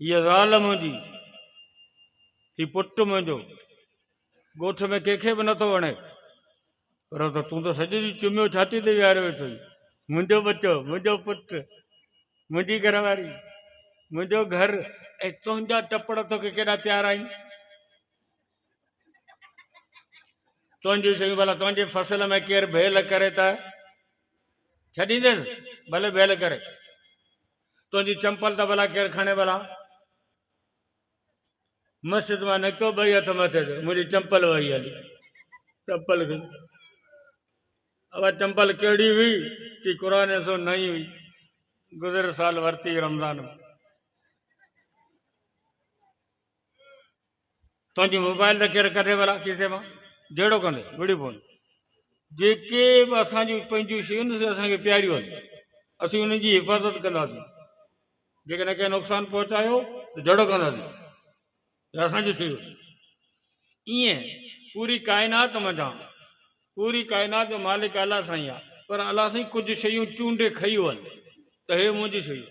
هيء زال منهنجي، هي پٽ منهنجو، ڳوٺ ۾ ڪنهن کي به نٿو وڻي، پر ته تون ته سڄي ڏينهن چميو ڇاتي تي ويهاريو ويٺو آهين، منهنجو ٻچو، منهنجو پٽ، منهنجي گهر واري، منهنجو گهر ۽ تنهنجا ٽپڙ توکي ڪيڏا پيارا آهن. تنهنجون شيون ڀلا تنهنجي فصل ۾ ڪير ڀيل ڪري ته ڇڏينديس، ڀلي ڀيل ڪري. تنهنجي چمپل ته ڀلا ڪير کڻي ڀلا؟ مسجد مان نڪتو ٻئي هٿ مٿي تي منهنجي چمپل وئي هلي چمپل کي اب چمپل کيڙي ہوئی تي قرآن سو نہیں ہوئی گزر سال ورتی رمضان تنهنجي موبائل ته ڪير ڪڍي ڀلا کيسي مان جهڙو ڪندي ويڙهي پوندي جيڪي به اسان جون پنهنجون شيون سي اسان کي پياريون آهن اسين انهن جي حفاظت ڪنداسين جيڪڏهن ڪنهن نقصان پهچايو ته جهڙو ڪنداسين اسانجي شيون ائين پوري ڪائنات منجهان پوري ڪائنات جو مالڪ الله سائين آهي پر الله سائين ڪجهه شيون چونڊي کيون آهن ته هي منهنجي شيون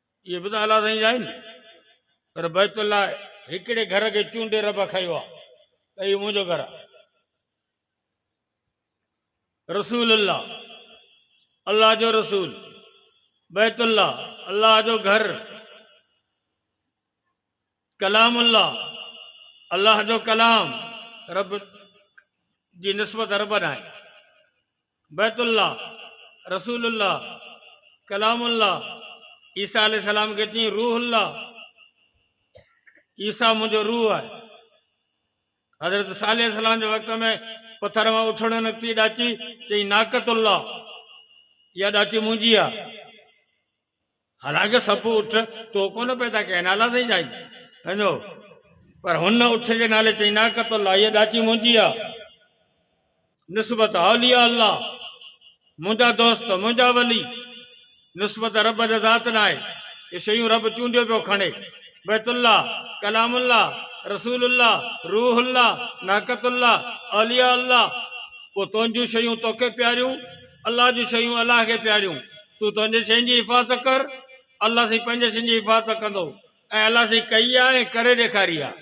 اهي به ته الله سائين جا آهن پر بيت الله هڪڙي گهر کي چونڊي رب کيو آ ته اهو منهنجو گهر آ رسول الله الله جو رسول بيت الله الله جو گهر ڪلام الله، الله جو ڪلام، رب جي نسبت رب ڏانهن، بيت الله، رسول الله، ڪلام الله، عيسيٰ عليه السلام کي چيائين روح الله، عيسيٰ منهنجو روح آهي. حضرت صالح عليه السلام جي وقت ۾ پٿر مان اٺڙو نڪتي ڏاچي چيائين ناقت الله، اها ڏاچي منهنجي آهي. حالانڪه سڀ اٺ تو ڪونه پيدا ڪيا نالا سائين جائين ويندو پر هن اٺ جي نالي چئي نه ڪتو الله هيء ڏاچي منهنجي آ نسبت اولياء الله منهنجا دوست منهنجا ولي نسبت رب جا ذات ناهي هي شيون رب چونڊيو پيو کڻي بيت الله ڪلام الله رسول الله روح الله ناقت الله اولياء الله پو تنهنجون شيون توکي پياريون الله جون شيون الله کي پياريون تون پنهنجي شين جي حفاظت ڪر، الله سائين پنهنجي شين جي حفاظت ڪندو ۽ الله سائين ڪئي آهي ۽ ڪري ڏيکاري آهي.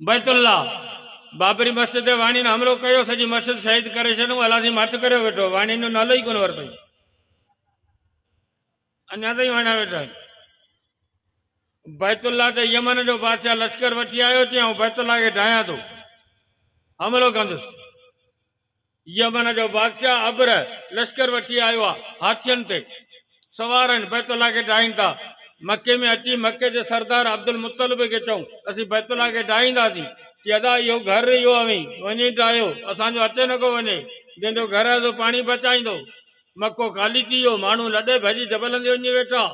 بيت الله، بابري مسجد تي واڻين حملو ڪيو، سڄي مسجد شهيد ڪري ڇڏيون، الله سائين مٿ ڪريو ويٺو، واڻين جو نالو ئي ڪونه ورتائين، اڃا تائين واڻيا ويٺا آهن. بيت الله تي يمن جو بادشاهه لشڪر وٺي آيو، چيائون بيت الله کي ڊاهيان ٿو، حملو ڪندس. يمن جو بادشاهه ابرهه لشڪر وٺي آيو آهي، هاٿين تي سوار آهن، بيت الله کي ڊاهين ٿا. مڪي ۾ اچي مڪي جي سردار عبدالمطلب کي چئون، اسين بيت الله کي ڊاهينداسين. چي ادا اهو گهر اهو اوهين وڃي ڊاهيو، اسان جو اچي نڪو وڃي، جنهن جو گهر آهي سو پاڻي بچائيندو. مڪو خالي ٿي ويو، ماڻهو لڏي ڀڄي جبلن تي وڃي ويٺا،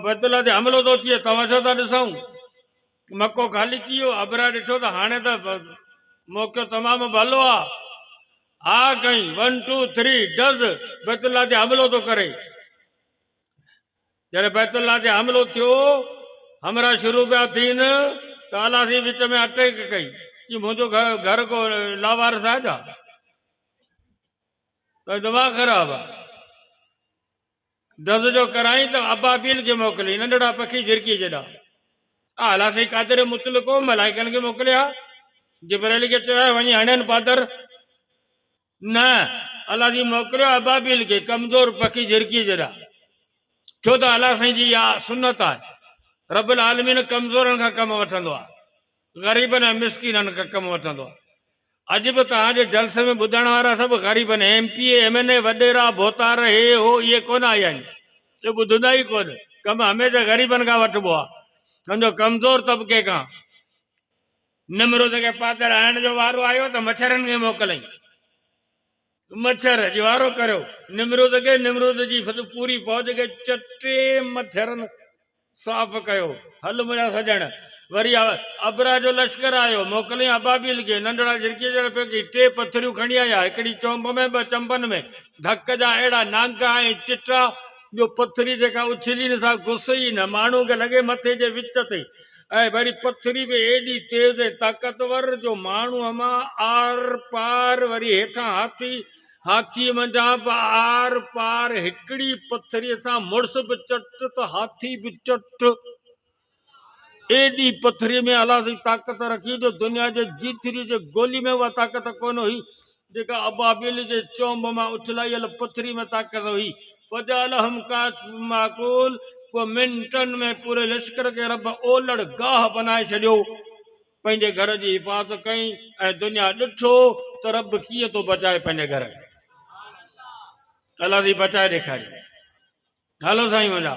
بيت الله تي حملو ٿو ٿئي، تماشو ٿا ڏسون. مڪو خالي ٿي ويو. ابرا ڏٺو ته هاڻي ته موقعو تمام ڀلو آ. آء ڪئين، ون ٽو ٿري ڊز، بيت الله تي حملو ٿو ڪري. جڏهن بيت الله تي حملو ٿيو، همراهه شروع پيا ٿين ته الله سين وچ ۾ اٽيڪ ڪئي، چيائين منهنجو گهر ڪو لاوارث آهي ڇا؟ تنهنجو دماغ خراب آ. دز جو ڪرائين ته ابابيل کي موڪلي، ننڍڙا پکي جھرڪي جيڏا. اعليٰ سائين قادر مطلقو ملائڪن کي موڪلي ها. جبرائيل کي چيو ها وڃي هڻين پادر. نه، اعليٰ سائين موڪليو ابابيل کي، ڪمزور پکي جھرڪي جيڏا. ڇو ته اعليٰ سائين جي اها سنت آهي. رب العالمين ڪمزورن کان ڪم وٺندو آهي. غريبن ۽ مسڪينن کان ڪم وٺندو آهي. اڄ به توهان جي جلسي ۾ ٻڌڻ وارا سڀ غريب آهن. M P A, M N A, وڏيرا، ڀوتار، هي، هو اهي ڪونه آيا آهن جو ٻڌندا ئي ڪونه. ڪم هميشه غريبن کان وٺبو آهي. سمجهو ڪمزور طبقي کان. نمرود کي پاتر هڻڻ جو وارو آيو ته مڇرن کي موڪلئين. مڇر اجوارو ڪريو نمرود کي، نمرود جي پوري فوج کي چٽي مڇرن صاف ڪيو. هل منهنجا سڄڻ! وري ابرهه جو لشڪر آيو، موڪليائين ابابيل کي، ننڍڙا جهرڪي جهڙا پيڪي، ٽي پٿريون کڻي آيا، هڪڙي چونب ۾ ٻه چنبن ۾، ڌڪ جا اهڙا نانگا ۽ چٽا جو پٿري جيڪا اڇلي نه سا گس ئي نه، ماڻهوء کي لڳي مٿي جي وچ تي ۽ وري پٿري به ايڏي تيز ۽ طاقتور جو ماڻهو امان آر پار وري هيٺان هاٿي هاٿي منجهان به آر پار هڪڙي پٿري سان مڙس به چٽ ته هاٿي به چٽ ايڏي پٿري ۾ الله جي طاقت رکي جو دنيا جي جيتري جي گولي ۾ اها طاقت ڪونه هئي جيڪا ابابيل جي چونب مان اڇلايل پٿري ۾ طاقت هئي. فجعلهم كعصف معقول پوء منٽن ۾ پوري لشڪر کي رب اولڙ گاهه بنائي ڇڏيو. پنهنجي گهر جي حفاظت ڪئي ۽ دنيا ڏٺو ته رب ڪيئن ٿو بچائي پنهنجي گهر کي. الله سائين بچائي ڏيکاريو. هلو سائين منهنجا،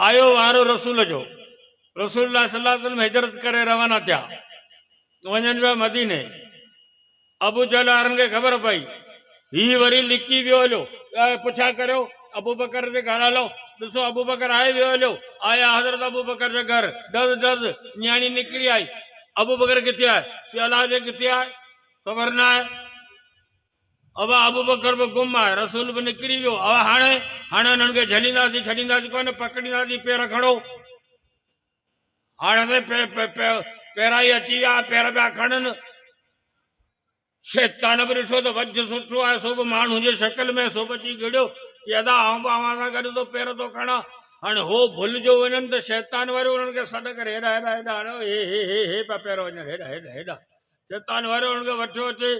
آيو وارو رسول جو. رسول الله صلي الله عليه وسلم هجرت ڪري روانا ٿيا. وڃڻ جو آهي مديني. ابوجهل وارن کي خبر پئي، هي وري لڪي ويو هليو. ٻيا پڇا ڪريو، ابوبڪر جي گهر هلو، ڏسو ابوبڪر آهي ويو هليو. آيا حضرت ابوبڪر جي گهر، ڊز ڊز نياڻي نڪري آئي، ابوبڪر ڪٿي آهي؟ چيو الاء جي ڪٿي آهي، خبر نه آهي. اوا ابوبڪر به گم آهي، رسول به نڪري ويو، اوا هاڻي؟ هاڻي انهن کي جهلينداسين، ڇڏينداسين ڪونه، پڪڙينداسين، پير کڻو. هاڻي سائين پيرائي اچي ويا، پير پيا کڻن. شيطان به ڏٺو ته وجهه سٺو آهي، سو به ماڻهوء جي شڪل ۾، سو به اچي گهڙيو، چي ادا آئون به اوهان سان گڏ ٿو پير ٿو کڻان. هاڻي هو ڀل جو وڃن ته شيطان واريون انهن کي سڏ ڪري هيڏانهن هيڏانهن هيڏانهن هيڏانهن، هي هي هي هي هي پيا پير وڃن هيڏانهن هيڏانهن هيڏانهن. شيطان وري انهن کي وٺيو اچي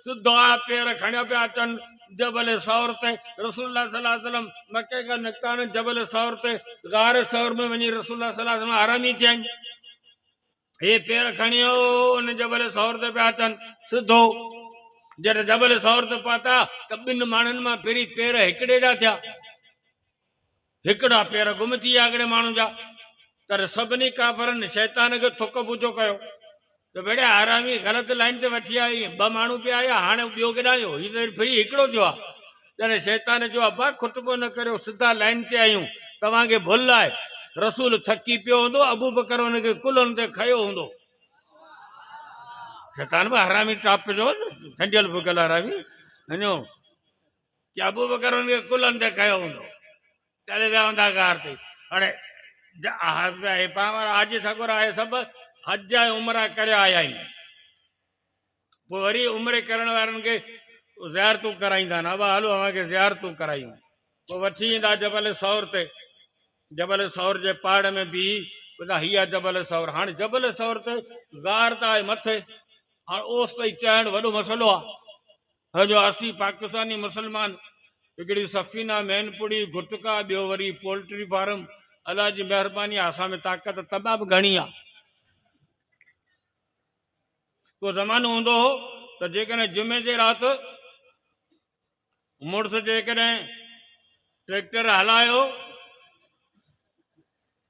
سڌا پير کڻيا پيا اچن جبل ثور تي رسول الله صلي الله عليه وسلم مڪي کان نڪتا آهن جبل ثور تي غار ثور ۾ وڃي رسول الله صلي الله عليه وسلم آرامي ٿيا آهن هي پير کڻيو ان جبل ثور تي پيا اچن سڌو جڏهن جبل ثور تي پهتا ته ٻن ماڻهن مان پھرين پير هڪڙي جا ٿيا هڪڙا پير گم ٿي ويا هڪڙي ماڻهو جا، تڏهن سڀني ڪافرن شيطان کي ٿڪ پوڇو ڪيو ته ڀيڙيا حرامي غلط لائين تي وٺي آيو آهين، ٻه ماڻهو پيا هيا هاڻي ٻيو ڪيڏانهن ويو، هي ته ڦري هڪڙو ٿيو آهي. تڏهن شيطان چيو ابا کٽ ڪو نه ڪريو سڌا لائين تي آهيون، توهان کي ڀل آهي، رسول ٿڪي پيو هوندو ابوبڪر ان کي ڪلهن تي کنيو هوندو. شيطان به حرامي ٽاپ جو ٺنڊيل ڦڪيل حرامي اڃو. جي ابوبڪر انهن کي ڪلهن تي کنيو هوندو تڏهن ويا هوندا غار تي هاڻي هي پاڻ وارا حاجي سڳورا اهي سڀ حج ۽ عمره ڪري آيا آهن پوء وري عمري ڪرڻ وارن کي زيارتون ڪرائيندا آهن ابا هلو اوهان کي زيارتون ڪرايون پوء وٺي ايندا جبل ثور تي جبل ثور جي پاڙ ۾ بيهي ٻڌا هي آهي جبل ثور هاڻي جبل ثور تي غار ته آهي مٿي هاڻي اوس تائين چهڻ وڏو مسئلو آهي هه جو اسين پاڪستاني مسلمان هڪڙي سفينه مين پڙي گٽڪا ٻيو وري پولٽري فارم الله جي مهرباني آ اسان ۾ طاقت طبع به گهڻي آ ڪو زمانو هوندو هو ته جيڪڏهن جمعي جي رات مڙس جيڪڏهن ٽريڪٽر هلايو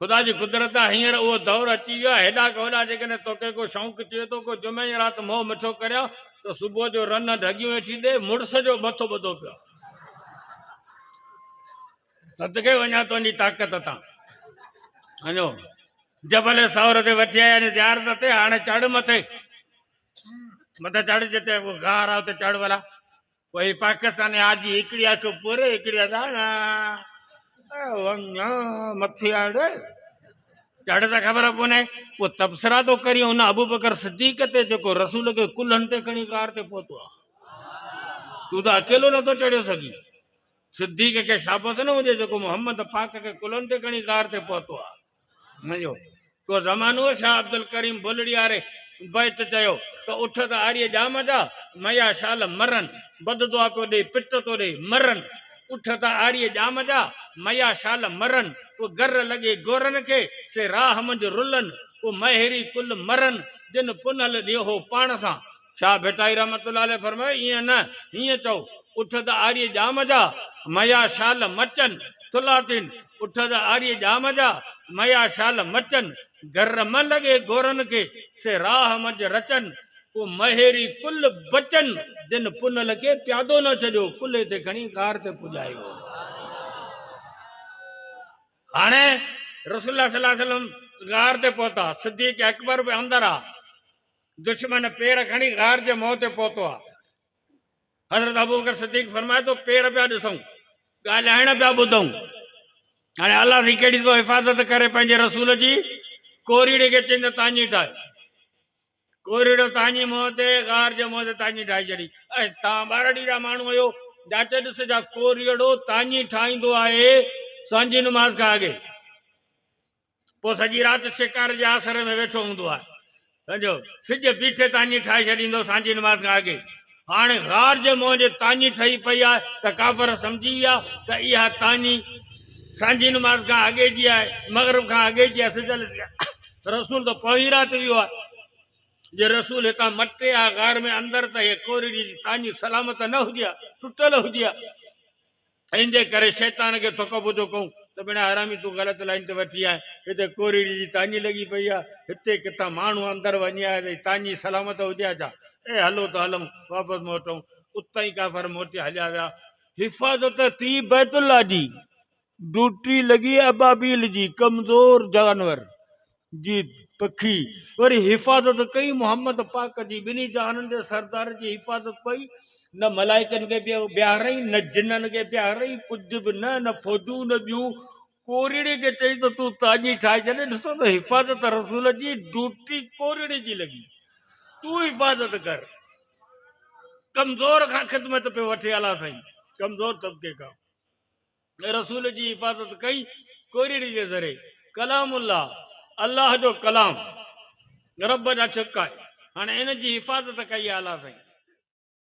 خدا جي قدرت آ هينئر اهو دور اچي ويو آ هيڏا کان هوڏا جيڪڏهن توکي ڪو شونق ٿئي ٿو ڪو جمعي جي رات منهن مٺو ڪريان ته صبح جو رنه ڍڳيون ويٺي ڏي مڙس جو مٿو ٻڌو پيو صدقي وڃان تنهنجي طاقت تان اڃو جبل سور تي وٺي آيا ني زيارت تي هاڻي چڙ مٿي مٿي چڙ جتي غار آ اتي چڙ ولا وهي پاڪستان آجي هڪڙي اک پوري هڪڙي اداڻا ونگان مٿي آڙي چڙ ته خبر پوني پو تبصرا تو ڪري ان ابو بکر صديق ته جيڪو رسول کي ڪلهن تي کڻي ڪار تي پهتو آ تو ته اڪيلو نه تو چڙيو سگي صديق کي شابس نه هجي جيڪو محمد پاڪ کي ڪلهن تي کڻي ڪار تي پهتو آ منهنجو ڪو زمانو شاهه عبدالڪريم بلڙياري بيت چيو ته اٺ ته آريء ڄام جا ميا شال مرن بد دعا پيو ڏي پٽ ٿو ڏي مرن اٺ ته آريء ڄام جا ميا شال مرن ڪو گر لڳي گورن کي سي راهه منجهه رلن ڪو مهيري ڪل مرن جن پنهل ڏيهو پاڻ سان شاهه ڀٽائي رحمة الله عليه فرمايو، ائين نه، هيئن چئو، اٺ ته آريء ڄام جا، مئيا شال مچن، ٿلاتين، اٺ ته آريء ڄام جا، مئيا شال مچن، گر مه لڳي گورن کي، سي راهه منجهه رچن. پوء مهيري ڪل بچن، دن پنهل کي پيادو نه ڇڏيو، ڪلهي تي کڻي غار تي پڄايو. هاڻي رسول الله صلي الله عليه وسلم غار تي پهتا، صديق اڪبر به اندر آ. دشمن پير کڻي غار جي منهن تي پهتو آ. حضرت ابوبڪر صديق فرمائي ٿو، پير پيا ڏسون، ڳالهائڻ پيا ٻڌون. هاڻي الله سائين ڪهڙي تو حفاظت ڪري پنهنجي رسول جي، ڪوريڙي کي چئين ته تاڃي ٺاهه. ڪوريڙو تاڃي منهن تي غار جي منهن تي تاڃي ٺاهي ڇڏي. ۽ توهان ٻارڙي جا ماڻهو آهيو، جاچي ڏس جا ڪوريڙو تاڃي ٺاهيندو آهي سوانح جي نماز کان اڳي. پوء سڄي رات شڪار جي آسري ۾ ويٺو هوندو آهي. سمجهيو؟ سج بيٺي تاڃي ٺاهي ڇڏيندو سانجهي نماز کان اڳي. هاڻي غار جي منهن جي تاڃي ٺهي پئي آهي ته ڪافر سمجهي ويا ته اها تاڃي سانجهي نماز کان اڳي جي آهي، مغرب کان اڳي جي آهي، سج لٿي ويو آهي. رسول ته پوئين رات ويو آهي. جي رسول هتان مٽي ها غار ۾ اندر ته اها ڪورڙيء جي تاڃي سلامت نه هجي ها، ٽٽل هجي ها. ان جي ڪري شيطان کي ٿڪ ٻڌو ڪئون ته ڀيڻا حرامي تون غلط لائين تي وٺي آهين، هتي ڪوريڙي جي تاڃي لڳي پئي آهي، هتي ڪٿان ماڻهو اندر وڃي آيا اٿئي، تاڃي سلامت هجي ها ڇا؟ اي هلو ته هلئون، واپس موٽئون. اتان ئي ڪافر موٽي هليا ويا. حفاظت ٿي بيت الله جي، ڊوٽي لڳي ابابيل جي، ڪمزور جانور جي پکي وري حفاظت ڪئي محمد پاڪ جي ٻنهي جهانن جي سردار جي حفاظت ڪئي نه ملائڪن کي بيهاريائين نه جنن کي بيهاريائين ڪجهه به نه نه فوجون نه ٻيون ڪورڙي کي چئي ته تون تاجي ٺاهي ڇڏ ڏسو ته حفاظت رسول جي ڊوٽي ڪورڙي جي لڳي تون حفاظت ڪر ڪمزور کان خدمت پيو وٺي الا سائين ڪمزور طبقي کان رسول جي حفاظت ڪئي ڪورڙي جي ذري ڪلام الله الله جو ڪلام رب جا ڇڪ آهي هاڻي ان جي حفاظت ڪئي آلا سائين.